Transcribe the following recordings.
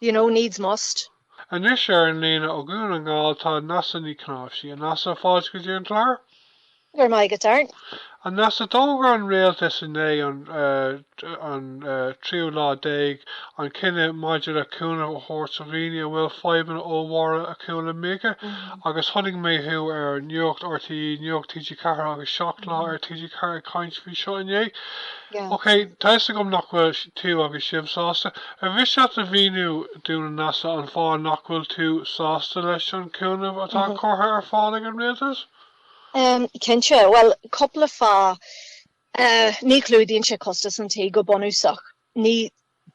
you know, needs must. Anois ar an líne ó Dhún na nGall tá Neasa Ní Chnáimhsí. A Neasa, fáilte go dtí an clár. Go raibh maith agat, Art. A Neasa, d'fhógair an Rialtas inné, an an tríú lá déag, an cinneadh maidir le cúnamh a thabhairt do dhaoine a bhfuil fadhbanna ollmhóra acu le mica agus chonaic mé thú ar Nuacht RTÉ, Nuacht TG4 agus Seacht Lá ar TG4 ag caint faoi seo inné. OK, tá 'fhios agam nach bhfuil tú agus sibh sásta. Ar mhiste leat a mhíniú dúinn a Neasa an fáth nach bhfuil tú sásta leis an chúnamh atá curtha ar fáil ag an rialtas? Cinnte, bhuel, cúpla fáth. Ní chlúdaíonn sé costas an tí, go bunúsach. Ní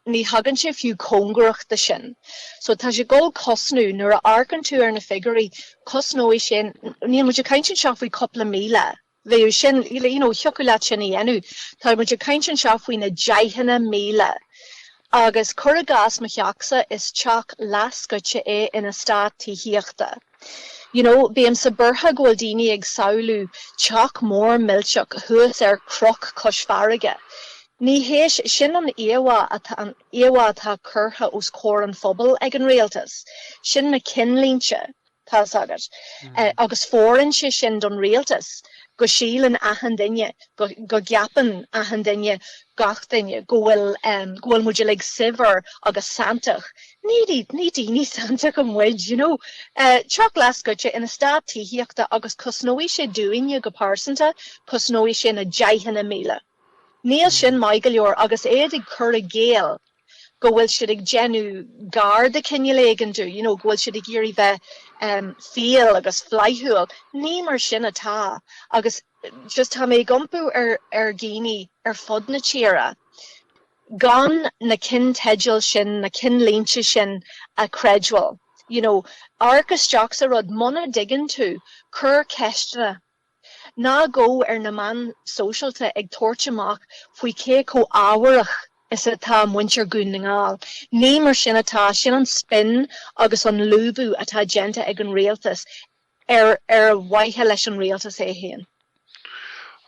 thagann sé fiú cóngarach de sin. So tá sé ag gabháil a chosnú, nuair a amharcann tú ar na figiúirí, cosnóidh sin, níl muid ag caint anseo faoi chúpla míle, bheadh sin, you know thiocfadh leat sin a dhéanamh. Tá muid ag caint anseo faoi na deicheanna míle. Agus cuir i gcás mo theach-sa, is teach leathscoite é in eastát tithíochta. You know, bímse buartha go bhfuil daoine ag samhlú teach mór millteach thuas ar chnoc cois farraige. Ní hé sin an íomhá atá, an íomhá atá curtha os comhair an phobail ag an rialtas. Sin na cinnlínte. Tá's agat. Agus fóireann sé sin don rialtas, go síleann achan duine, go gceapann achan duine, gach duine, go bhfuil, go bhfuil muid uilig saibhir agus santach. Ní daoine santacha muid, you know. Teach leathscoite in eastát tithíochta agus cosnóidh sé dúinne go pearsanta, cosnóidh sé na deicheanna míle. Níl sin maith go leor agus iad ag cur i gcéill go bhfuil siad ag déanamh gar de chineál éigin dúinn, you know, go bhfuil siad ag iarraidh bheith fial agus flaithiúil. Ní mar sin atá agus just tá mé ag impí ar dhaoine ar fud na tíre gan na cinnteidil sin, na cinnlínte sin a chreidbheáil. You know, amharc isteach sa rud, muna dtuigeann tú, cuir ceisteanna. Ná gabh ar na meáin sóisialta ag tabhairt amach faoi cé chomh ámharach is atá muintir Dhún na nGall. Ní mar sin atá, sin an spin agus an lúbadh atá déanta ag an rialtas ar ar mhaithe leis an rialtas é féin.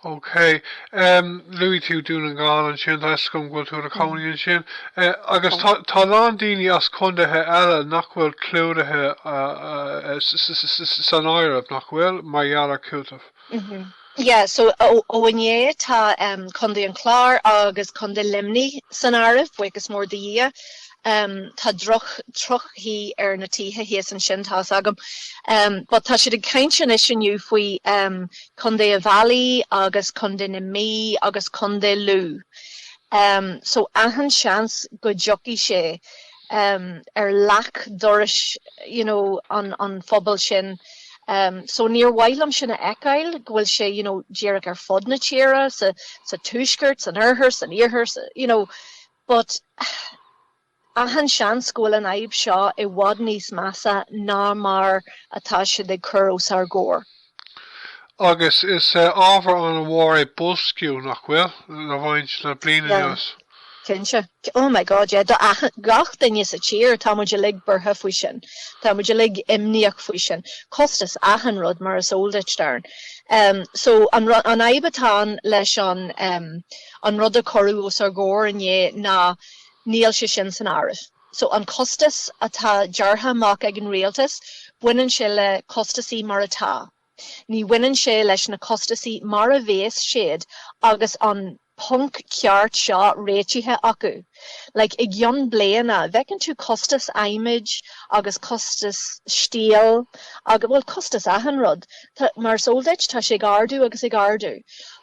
OK. Luaigh tú Dún na nGall ansin, tá fhios agam go bhfuil tú i do chónaí ansin. Agus tá a lán daoine as condaetha eile nach bhfuil clúdaithe san áireamh, nach bhfuil, mar gheall ar chúiteamh? Yeah, so ó inné tá Condae an Chláir agus Condae Luimnigh san áireamh, buíochas mór do Dhia. Tá droch-chaoi ar na tithe thíos ansin, tá fhios agam. But tá siad ag caint anois inniu faoi Contae Uíbh Fhailí agus Contae na Mí agus Contae Lú so achan seans go dtiocfaidh sé ar leac dorais you know an phobail sin so níor mhaith liom sin a fheiceáil go bhfuil sé you know díreach ar fud na tíre sa tuaisceart, san oirthear, san iarthar you know but. Achan seans go bhfuil an fhadhb seo i bhfad níos measa ná mar atá siad ag cur os ár gcomhair. Agus is ábhar an-mhór é boilsciú, nach bhfuil, le roinnt le bliain anuas? Cinnte. Oh my God, yeah. Do gach duine sa tír, tá muid uilig buartha faoi sin. Tá muid uilig imníoch faoi sin. Costas achan rud, mar is eol duit, Darren. So, an fhadhb atá ann leis an rud a cuireadh os ár gcomhair inné ná Níl sé sin san áireamh. So an costas atá deartha amach ag an rialtas, baineann sé le costasaí mar atá. Ní bhaineann sé leis na costasaí mar a bhéas siad agus an ponc ceart seo réitithe acu. Like, i gcionn bliana, bhfeiceann tú costas adhmaid agus costas steel agus, bhuel, costas achan rud. Mar is eol duit, tá sé ag ardú agus ag ardú.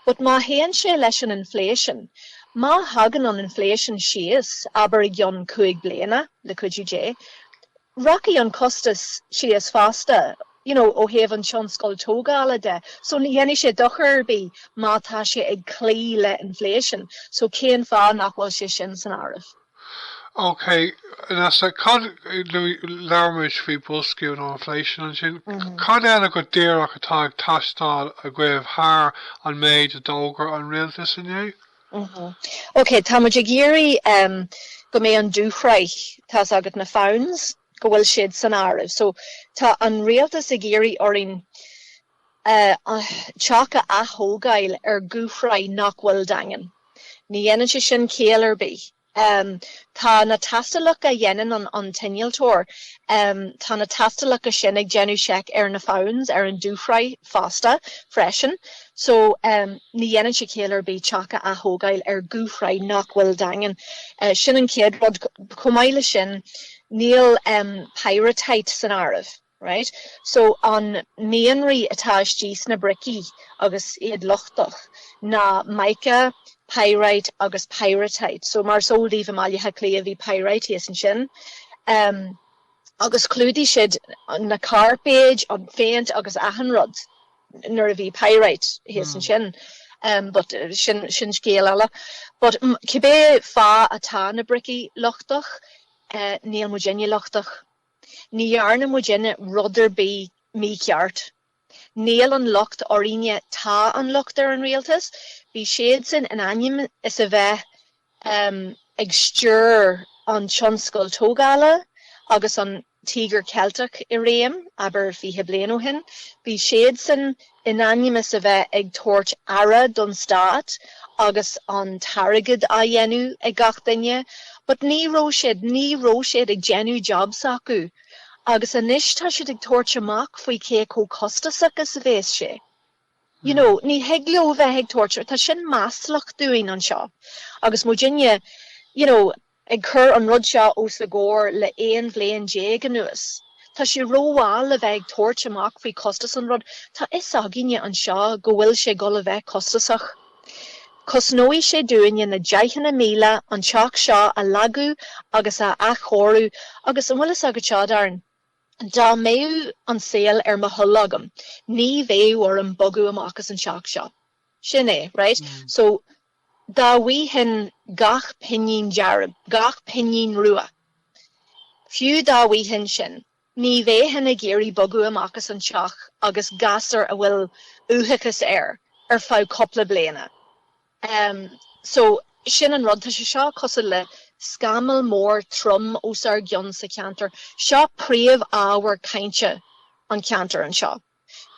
But má théann sé leis an inflation, Má thagann an inflation síos, abair i gcionn cúig bliana, le cuidiú Dé, rachaidh an costas síos fosta, you know, ó thaobh an tionscail tógála de. So ní dhéanfaidh sé dochar ar bith má tá sé ag cloí le inflation. So cén fáth nach bhfuil sé sin san áireamh? OK, Neasa, cad, labhair muid faoi boilsciú nó inflation ansin, cad eile go díreach atá ag teastáil agaibh thar an méid a d'fhógair an rialtas inné? OK, tá muid ag iarraidh go mbeidh an dúshraith, tá's agat na founds, go bhfuil siad san áireamh. So, tá an rialtas ag iarraidh orainn teach a ath-thógáil ar dhúshraith nach bhfuil daingean. Ní dhéanann sé sin ciall ar bith. Tá na tástálacha a dhéanann an t-innealtóir, tá na tástálacha sin ag déanamh seic ar na founds ar an dúshraith fosta, freisin. So, ní dhéanann sé ciall ar bith teach a ath-thógáil ar dhúshraith nach bhfuil daingean. Sin an chéad rud. Chomh maith leis sin, níl pyrrhotite san áireamh. Right so an mianraí atá istigh sna bricí agus iad lochtach ná mica, pyrite agus pyrrhotite. So mar is eol daoibh i mBaile Átha Cliath bhí pyrite thíos ansin. Em agus chlúdaigh siad na cairpéid, an phéint agus achan rud nuair a bhí pyrite thíos ansin. Em but sin, sin scéal eile. But cibé fáth atá na bricí lochtach eh níl muidinne lochtach. Ní dhearna muidinne rud ar bith mícheart. Níl an locht orainne, tá an locht ar an rialtas. Bhí siadsan in ainm is a bheith ag stiúir an tionscail tógála agus an Tíogar Ceilteach i réim, abair, 20 bliain ó shin. Bhí siadsan in ainm is a bheith ag tabhairt aire don stát agus an t-airgead á dhéanamh ag gach duine, but ní raibh siad, ní raibh siad ag déanamh jab s'acu. Agus anois tá siad ag tabhairt amach faoi cé chomh costasach is a bheas sé. You know, ní thig leo bheith ag tabhairt, tá sin maslach dúinn anseo. Agus muidinne, you know. ag cur an rud seo os a gcomhair le 11 bhliain anuas. Tá sé rómhall le bheith ag tabhairt amach faoi chostas an rud, tá 'fhios againne anseo go bhfuil sé ag goil a bheith costasach. Cosnóidh sé dúinne na deicheanna míle an teach seo a leagadh agus a athchóiriú agus, an bhfuil fhios agat seo, Darren, dá mbeadh an saol ar mo thoil agam, ní bheadh orm bogadh amach as an teach seo. Sin é, right? So. Dá bhfaighinn gach pingin dearg, gach pingin rua, fiú dá bhfaighinn sin, ní bheinn ag iarraidh bogadh amach as an teach agus gasúr a bhfuil uathachas air ar feadh cúpla bliain. So, sin an rud. Tá sé seo cosúil le scamall mór trom os ár gcionn sa cheantar. Seo príomh-ábhar cainte an cheantair anseo.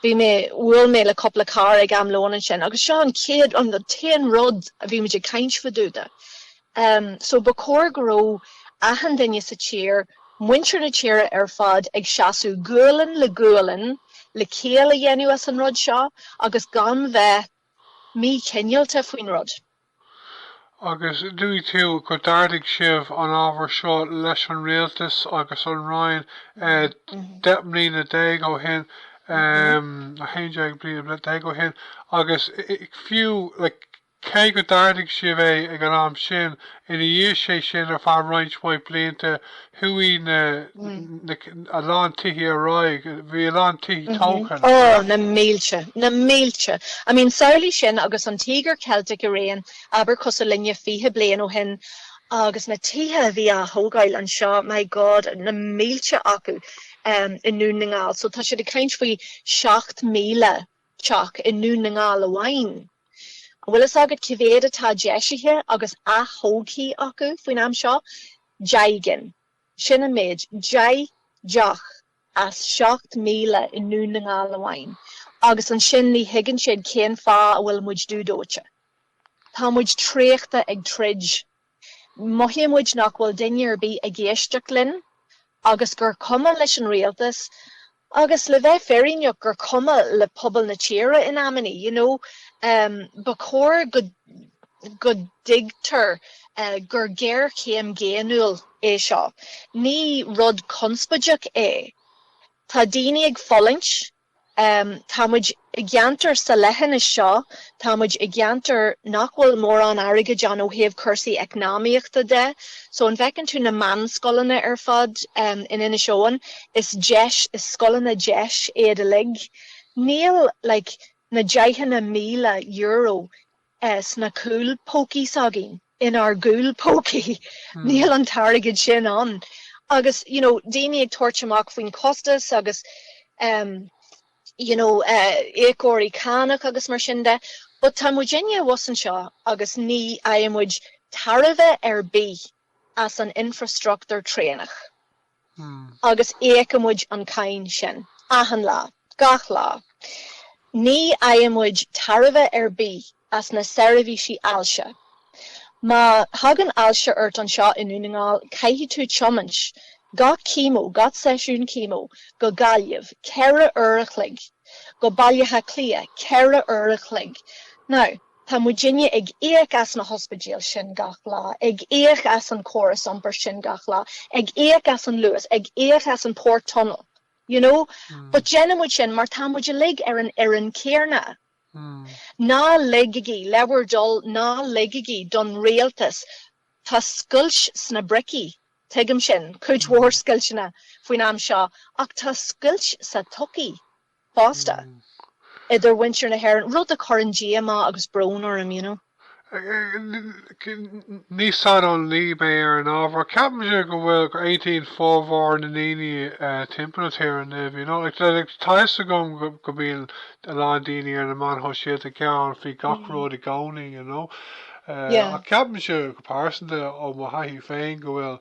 bhí mé, bhuail mé le cúpla cara ag am lóin ansin agus seo an chéad, an t-aon rud a bhí muid ag caint fá dtaobh de. Em, so ba chóir go raibh achan duine sa tír, muintir na tíre ar fad ag seasamh gualainn le gualainn le ciall a dhéanamh as an rud seo agus gan bheith míchineálta faoin rud. Agus luaigh tú gur ardaigh sibh an ábhar seo leis an Rialtas agus an Roinn deich mbliana déag ó shin, 11 bliana déag ó shin, agus fiú cé gur ardaigh sibh é ag an am sin, ina dhiaidh sé sin, ar feadh roinnt mhaith blianta, Chuaigh na, na, a lán tithí ar aghaidh, bhí a lán tithí tógtha ann. Ó, na mílte, na mílte. I mean, samhlaigh sin agus an Tíogar Ceilteach i réim, abair cosúil le fiche bliain ó shin, agus na tithe a bhí á dtógáil anseo, my God, na mílte acu i nDún na nGall. So tá siad ag caint faoi seacht míle teach i nDún na nGall amháin. An bhfuil fhios agat cé mhéad atá deisithe agus aththógtha acu faoin am seo? Deich gcinn. Sin an méid. Deich, deich as seacht míle i nDún na nGall amháin agus ansin ní thuigeann siad cén fáth a bhfuil muid dúdóite. Tá muid traochta ag troid. Mothaíonn muid nach bhfuil duine ar bith ag éisteacht linn agus gur cuma leis an rialtas Agus le bheith fírinneach, gur cuma le pobal na tíre in amannaí, you know. Ba chóir go go dtuigtear gur géarchéim dhaonnúil é seo. Ní rud conspóideach é. Tá daoine ag fulaingt. Tá muid I gceantar sa leithinis seo, tá muid i gceantar nach bhfuil mórán airgid ann ó thaobh cúrsaí eacnamaíochta de, so an bhfeiceann tú na meánscoileanna ar fad in Inis Eoghain, is deis, is scoileanna deis iad uilig. Níl like na deicheanna míle euro sna cúl pócaí s'againn, in ár gcúl pócaí, níl an t-airgead sin ann. Agus you know daoine ag tabhairt amach faoin chostas agus you know íocóirí cánach agus mar sin de, but tá muidinne abhus anseo agus ní fhaigheann muid tairbhe ar bith as an infrastruchtúr traenach. Agus íocann muid an cáin sin. Achan lá. Gach lá. Ní fhaigheann muid tairbhe ar bith as na seirbhísí ailse. Má thagann ailse ort anseo i nDún na nGall, caithfidh tú tiomáint, gach chemo, gach seisiún chemo, go Gaillimh, ceithre uair a chloig, go Baile Átha Cliath, ceithre uair a chloig. Now. Tá muidinne ag íoc as na hospidéil sin gach lá, ag íoc as an córas iompair sin gach lá, ag íoc as an Luas, ag íoc as an Port Tunnel, you know, but déanann muid sin mar tá muid uilig ar an fhoireann céarna. Ná ligigí le bhur dtoil, ná ligigí don rialtas. Tá scoilt sna bricí, tuigim sin, cuid mhór scoilteanna faoin am seo, ach tá scoilt sa tsochaí fosta, idir mhuintir na hÉireann, rud a chuireann díomá agus brón orm, you know. Ní saineolaí mé ar an ábhar. Ceapaimse go bhfuil, go aontaíonn formhór na ndaoine timpeall na tíre inniu, you know. Like, tá fhios agam go mbíonn a lán daoine ar na meáin shóisialta ag gearán faoi gach rud i gcónaí, you know. Ach ceapaimse, go pearsanta, ó mo thaithí féin, go bhfuil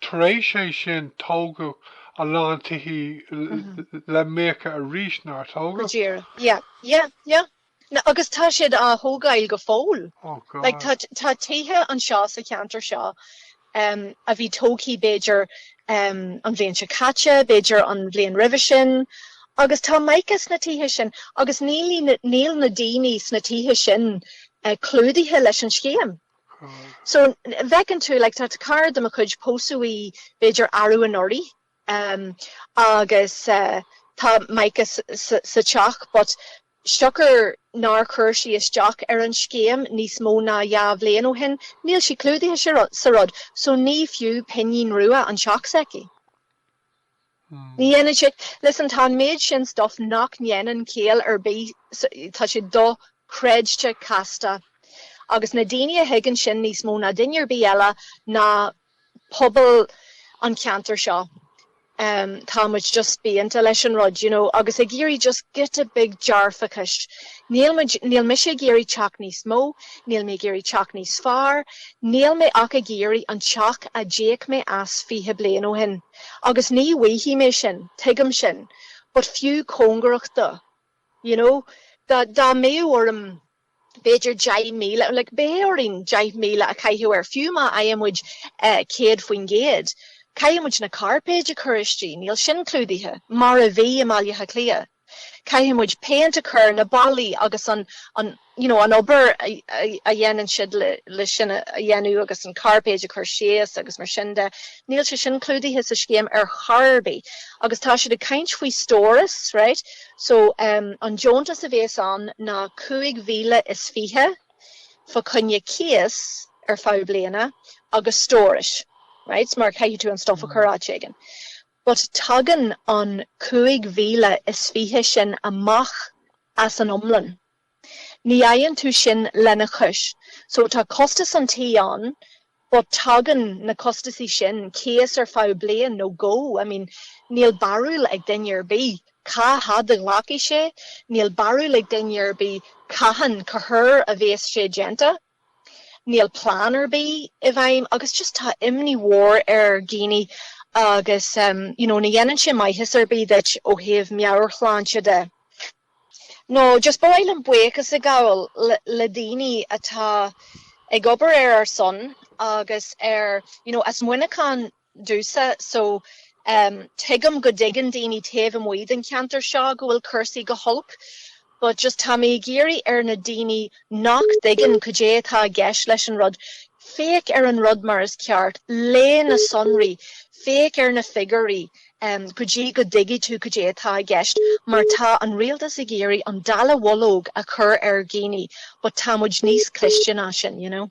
Tar éis é sin tógadh a lán tithí le míoca arís, nár tógadh? Go díreach, yeah, yeah, yeah. No, agus tá siad á thógáil go fóill. Oh God. Like tá, tá tithe anseo sa cheantar seo em a bhí tógthaí b'fhéidir em an bhliain seo caite, b'fhéidir an bhliain roimhe sin agus tá mica sna tithe sin agus níl, níl na daoine sna tithe sin eh clúdaithe leis an scéim. So, an bhfeiceann tú, like, tá cara de mo chuid, pósadh í b'fhéidir arú anuraidh, em, agus tá mica sa teach but siocair nár chuir sí isteach ar an scéim níos mó ná dhá bhliain ó shin, níl sí clúdaithe sa rud, so ní fiú pingin rua an teach s'aici. Ní dhéanann sé. Listen, tá an méid sin stuif nach ndéanann ciall ar bith, tá sé dochreidte casta. Agus na daoine a thuigeann sin níos mó ná duine ar bith eile ná pobal an cheantair seo, tá muid just spíonta leis an rud, you know, agus ag iarraidh just giota beag dearfachais. Níl muid, níl mise ag iarraidh teach níos mó, níl mé ag iarraidh teach níos fearr, níl mé ach ag iarraidh an teach a d'íoc mé as fiche bliain ó shin. Agus ní bhfaighidh mé sin, tuigim sin, but fiú cóngarach dó, you know, dá, dá mbeadh orm b'fhéidir deich míle, like beidh orainn deich míle a chaitheamh air, fiú má fhaigheann muid céad faoin gcéad, caithfidh muid na cairpéid a chur istigh, níl sin clúdaithe, mar a bhí i mBaile Átha Cliath. Caithfidh muid péint a chur ar na ballaí agus an, an, you know, an obair a dhéanann siad le, le sin a dhéanamh agus an cairpéid a chur síos agus mar sin de. Níl sé sin clúdaithe sa scéim ar chor ar bith. Agus tá siad ag caint faoi stóras, right. So, ehm, an deontas a bhéas ann ná cúig mhíle is fiche fá choinne cíos ar feadh bliana agus stórais, right, mar caithfidh tú an stuff a chur áit éigin. But tagann an cúig mhíle is fiche sin amach as an iomlán. Ní fhaigheann tú sin lena chois. So tá costas an tí ann, but tagann na costasaí sin cíos ar feadh bliain nó dhó. I mean, níl barúil ag duine ar bith cá fhad a ghlacfaidh sé, níl barúil ag duine ar bith cathain, cá huair a bhéas sé déanta. Níl plean ar bith i bhfeidhm agus just tá imní mhór ar dhaoine agus you know ní dhéanann sé maitheas ar bith duit ó thaobh meabhairshláinte de. Nó just ba mhaith liom buíochas a ghabháil le daoine atá ag obair ar ár son agus ar, you know, as Muineachán. domhsa so tuigim go dtuigeann daoine taobh amuigh den cheantar seo go bhfuil cúrsaí go holc but just tá mé ag iarraidh ar na daoine nach dtuigeann cad é atá i gceist leis an rud, féach ar an rud mar is ceart, léigh na sonraí, féach ar na figiúirí go dtí go dtuigfidh tú cad é atá i gceist mar tá an rialtas ag iarraidh an dallamhullóg a chur ar dhaoine but tá muid níos cliste ná sin, you know.